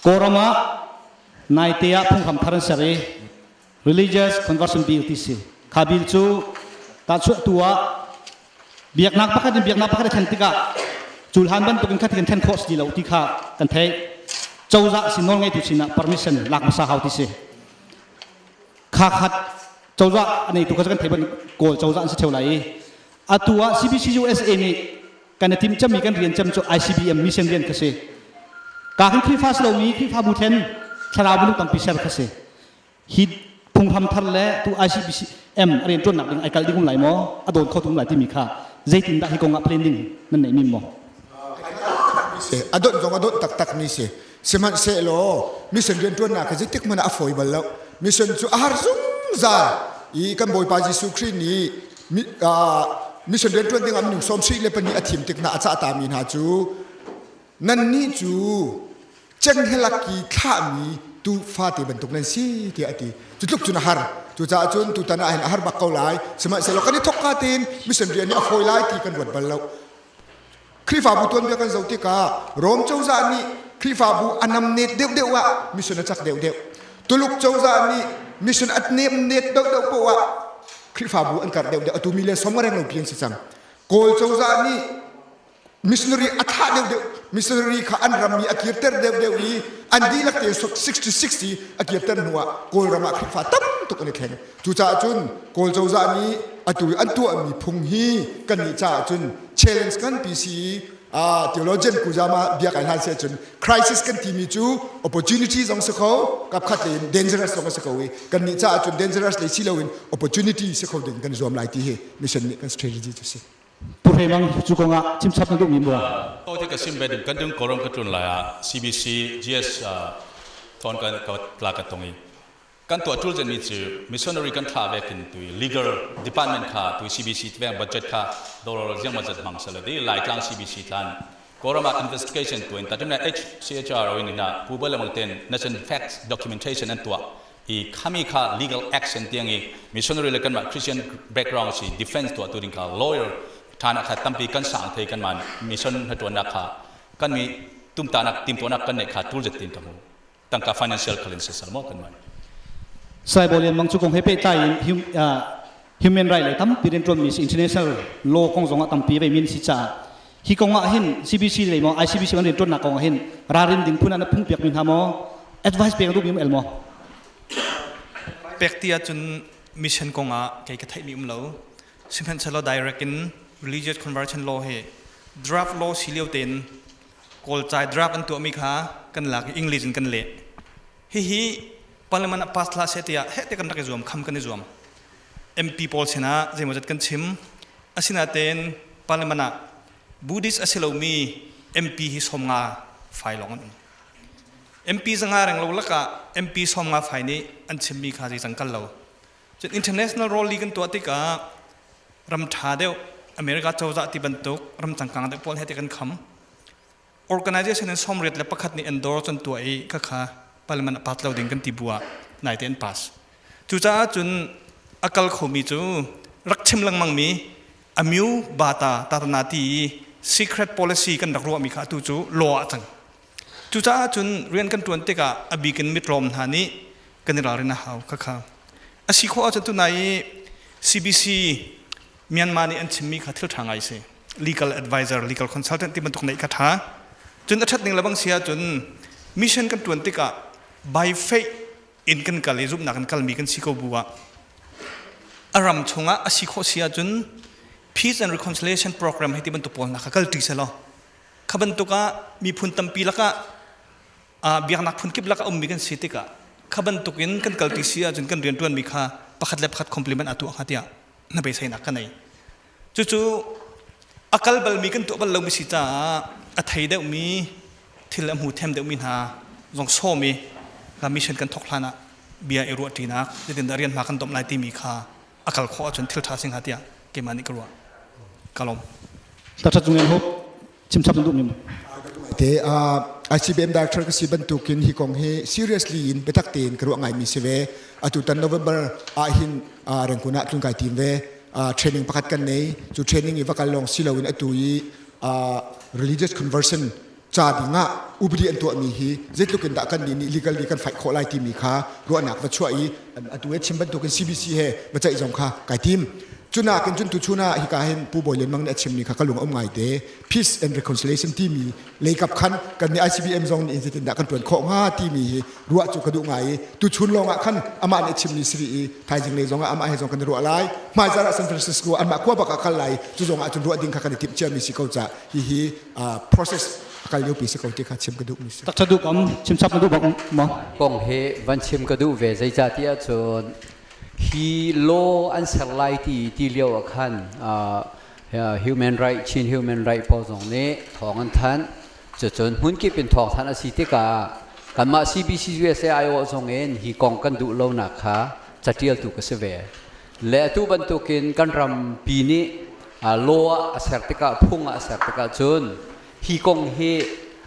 Kawlram ah naite ah phunghram thar an ser i religious conversion bill ti si. Kha bill cu tahchuahtu ah biaknak pakhat in biaknak pakhat a thlen tikah culhan bantukin kha thikin then khawh si lo ti kha kan theih. Cozah sin nawl ngeitu sinah permission lak hmasa hau ti si. Kha khat cozah a neitu kha cu kan theih bang Kawl cozah an si theo lai i atu ah CBCUSA nih kan i tim cemmi kan rian cem cu ICBM mission rian kha si ka kan Khrihfa si lomi Khrihfabu thlen thlarau minung tampi ser kha si hi phunghram thar le tu ICBM rian tuannak ding ai kal ding um lai maw a dawn kho tum lai timi kha zeitin dah hi kong ah planning nan nei min maw a dot zong a dot tak tak mi si sihmanhsehlaw mission rian tuannak kha zeitik mana a fawi bal lo mission cu a har zungzal i kan bawipa Jesuh Khrih nih mission rian ṭuan dingah minung sawm sih le pahnih a thim tik hna a cah tami hna cu nannih cu cenghngelakki thlahmi tuufate bantuk nan si tiah a ti cu tluk cun a har cucaah cun tutan ah hin a har bak ko lai sihmanhsehlaw kan i thokka tein mission rian nih a fawi lai ti kan ruat bal lo Khrihfabu tuanbia kan zoh tikah Rom cozah nih Khrihfabu a namnet deuhdeuh ah mission a cak deuhdeuh. Tuluk cozah nih mission a nemnet deuhdeuh poh ah Khrihfabu an karh deuhdeuh. Atu mi le som a reng lo pian si cang. Kawl cozah nih missionary a thah deuhdeuh. Missionary kha an ram i a kirter deuhdeuh i an dihlak te 60-60 a kirter hnu ah Kawlram ah Khrihfa tam tuk an i thleng. Cucaah cun Kawl cozah nih atu an tuahmi phung hi kannih caah cun challenge nganpi si i theologian kuzam ah bia kai hlan seh cun crisis kan timi cu opportunity zong si kho kapkhat le in dangerous zong si ko i kannih caah cun dangerous le si loin opportunity si kho ding kan zuam lai ti hi mission nih kan strategy cu si purhe mang cu kong ah chimchap na duhmi mu to ti ka sim ve ding kan ding koram ka tlun lai ah CBC GS thon kan ka tla ka tong i kan tuah ṭul dingmi cu missionary kan thlah ve kin tui legal department kha tui CBC tiveng budget kha dollar ziangmah zat hmang sala di Laitlang CBC tlan Kawram ah investigation tuin tatimna HCHR oin ina pubal le ten nation facts documentation an tua i khami kha legal action tiang i missionary le kanmah Christian background si defense tua tu ding kha lawyer thana kha tampi kan sang thei kanman mission hatuannak kha kan mi tumtanak timtuanak kan ne kha tul jatin ka mu tangka financial kal in soisel maw kan man saibawi lianmang cu kong he pehtlai in human right le tampi riantuanmi si international law kong zongah tampi ve min si caah hi kong ah hin CBC lei maw ICBC an riantuannak kong ah hin ralrin ding phun an phungpiak mi hna maw advice pek duh mi el maw pek ti ahcun mission kong ah kei ka theih mi um lo sihmanhsehlaw direct in religious conversion law hi draft law si lio tein Kawlcai drug an tuahmi kha kan lak i English in kan leh. Hihi Parliament ah pass thlah seh tiah heh ti kan rak i zuam, kham kan i zuam. MP pawl sinah zeimawzat kan chim. Asinain Parliament ah Buddhist a si lomi MP hi sawmnga fai lawng an um. MP zanga reng lo lakah MP sawmnga fai nih an chimmi kha zeicang kal lo. Cun international role li kan tuah tikah ram ṭha deuh America cozah ti bantuk ram cangkang deuh pawl he ti kan kham. Organization in sawmriat le pakhat nih endorse an tuah i khakha parliament a pass lo ding kan ti bu ah naite an pass. Cucaah cun a kal khomi cu rak chim lengmangmi amyu bata tarna ti i secret policy kan rak ruahmi kha atu cu law ah cang. Cucaah cun rian kan ṭuan tikah a bik in mitlawm hna nih kan i ralrin a hau khakha. A si khawh ahcun tunai i CBC Myanmar nih an chimmi kha thil ṭha ngai a si. Legal advisor, legal consultant ti bantuk neih kha ṭha. Cun a ṭhat ning lebang si ahcun mission kan ṭuan tikah by faith in kan kal i zumhnak in kalmi kan si ko bu ah a ram chungah a si khawh si ahcun peace and reconciliation program hei ti bantuk pawl hna kha kalṭi selaw Kha bantuk ah miphun tampi lakah biaknak phun kip lak a ummi kan si tikah kha bantuk in kan kalpi si ahcun kan rianṭuanmi kha pakhat le pakhat compliment a tuah hnga tiah hnabeiseinak ka nei. Cucu a kal balmi kan tuah bal lomi si caah a thei deuhmi thil a hmu them deuhmi hna zong som i mission kan thawk hlan ah bia i ruahṭinak, nitin a rian hma kan domh lai timi kha a kal khawh ahcun thil ṭha si hnga tiah keimah nih ka ruah. Ka lawm. Dr. Tung Lian Hope, chimchap na duh mi maw? Te uh, ICBM director ka si bantukin hi kong hi seriously in biatak tein ka ruah ngai mi si ve. Atu tan November ah hin uh, rengkun ah tlun kai tim ve. Uh, training pakhat kan nei. Cu training i vakal long silo in atu i uh, religious conversion ca dingah upadi an tuahmi hi zeitluk in dah kan nih nih legally kan fight khawh lai timi kha ruahnak va chuah i atu he chim bantukin CBC he va ceih zong kha kai tim cunak in cun tu chun ah hika hin Pu Bawi Lian Mang nih a chimmi kha ka lung a um ngai te Peace and Reconciliation timi leikap khan kan nih ICBM zong nih zeitin dah kan tuan khawh hnga timi hi ruah cu ka duh ngai i tu chun lawngah khan amah nih chimmi siri i thaizing lei zongah amah he zong kan i ruah lai hmai zarah San Francisco anmah khua bak a kal lai cu zongah cun ruah ding kha kan i timh ciami si ko ca hihi process akal liopi si ko ti kha chim ka duh mi si tak thaduk am chim chap ka duh bak ma kong he van chim ka duh ve zeicah ti ahcun hi law an ser lai ti ti lio ah khan human right chin human right pawl zong nih thawng an thanh cucun hmun kip in thawng thanh a si tikah kanmah CBC USA IO zong in hi kong kan duh lonak kha catialtu ka si ve Le atu bantukin kan rampi nih law ah a ser tikah, phung ah a ser tikah cun hi kong hi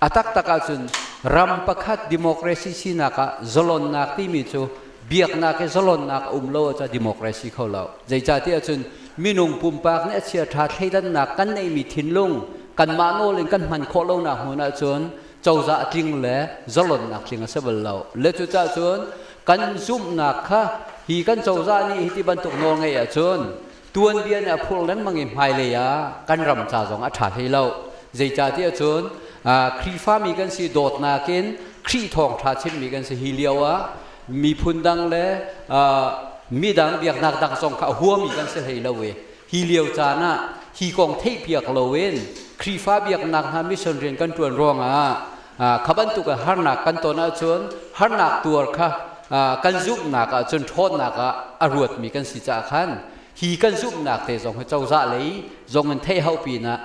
a taktak ahcun ram pakhat democracy sinak ah zalonnak timi cu biaknak i zalonnak a um lo ahcun democracy kho lo. Zeicahtiah cun minung pumpak nih a chiaṭha thleidannak kan neihmi thinlung kanmah nawl in kan hman khawh lonak hmun ahcun cozah tling le zalonnak tling a si bal lo le cucah cun kan zumhnak kha hi kan cozah nih hi ti bantuk nawl ngeih ahcun tuanbia nih a phur lengmang i hmailei ah kan ram ca zong a ṭha hlei lo zeicahtiah cun Khrihfami kan si dawtnak in Khrih thawngṭha chimmi kan si hi lio ah miphun dang le midang biaknak dang zong kha a huami kan si hlei lo i Hi lio caan ah hi kong theihpiak loin Khrihfa biaknak hna mission rian kan ṭuan ruangah kha bantukin harnak kan ton ahcun harnak tuar kha kan zumhnak ahcun ṭhawnnak ah a ruatmi kan si caah khan hi kan zumhnak te zong hi cozah lei zongin theihau pinah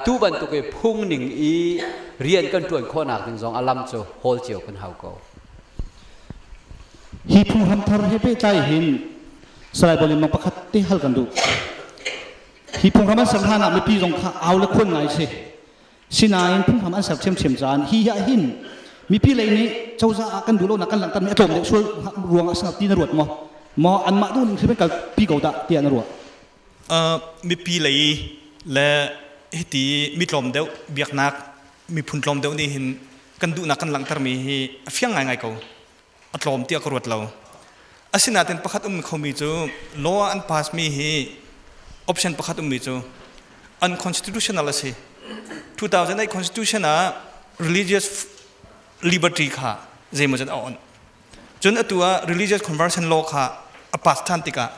tu bantukin phungning i rian kan ṭuan khawhnak ding zong a lam cu hawl cio kan hau ko. Hi phunghram thar he pehtlai hin Salai Paul Limmang pakhat te hal kan duh. Hi phunghram an ser hlan ah mipi zong kha au le khon ngai si. Sinain phunghram an ser ṭhiamṭhiam caan hi hi ah hin mipi lei nih cozah ah kan duh lonak kan langhtermi a tlawm deuh sual ruang ah sinah ti na ruat maw? Maw anmah duh ning hrim kalpi ko dah tiah na ruah? Uh, mipi lei le hiti mi tlawm deuh biaknak miphun tlawm deuh nih hin kan duhnak kan langhtermi hi a fiang ngaingai ko. a tlawm tiah ka ruat lo. Asinain pakhat ummi khomi cu law ah an passmi hi option pakhat ummi cu unconstitutional a si. 2008 constitution ah religious liberty kha zeimaw zat a on. Cun atu ah religious conversion law kha a pass than tikah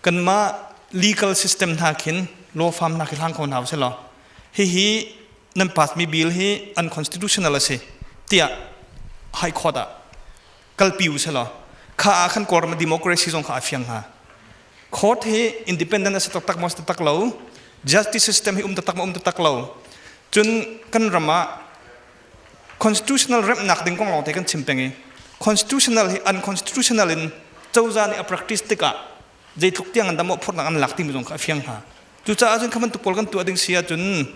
kanmah legal system hna khin law firm hna khi hlang ko hna usih law hihi nan pass mi bill hi unconstitutional a si tiah high court ah kalpi u selaw kha ah khan kawlram democracy zong kha a fiang hnga court hi independent a si taktak maw si taktak lo justice system hi um taktak maw um taktak lo cun kan ram ah constitutional remnak ding kong lawng te kan chim peng i constitutional hi unconstitutional in cozah nih a practice tikah zeitluk tiang an tam mawhphurhnak an lak timi zong kha a fiang hna. Cucaah cun kha bantuk pawl kan tuah ding si ahcun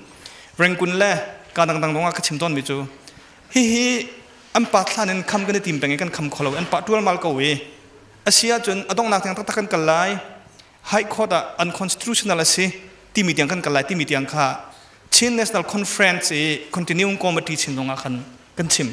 Rangoon le ka dangdang lawngah ka chim tawnmi cu hihi an pa thlan in kham kan i tim peng i kan kham kho lo an pah ṭualmal ko i a si ahcun a donghnak tiang taktak kan kal lai high court ah unconstitutional a si timi tiang kan kal lai timi tiang kha Chin National Conference i continuing committee chin zongah khan kan chim.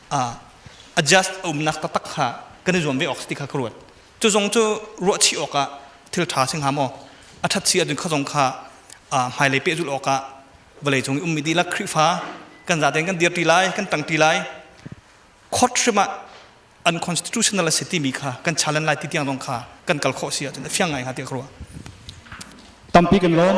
adjust a umnak taktak kha kan i zuam ve awk ti kha ka ruat cu zong cu ruahchih awkah thil ṭha si hnga maw a ṭhat si ahcun kha zong kha hmailei pehzulh awkah vawlei cung i ummi dihlak Khrihfa kan zaten kan dirṭi lai kan ṭangṭi lai court hrim ah unconstitutional a si timi kha kan challenge lai ti tiang zong kha kan kal khawh si ahcun a fiang ngai hnga tiah ka ruah tampi kan lawm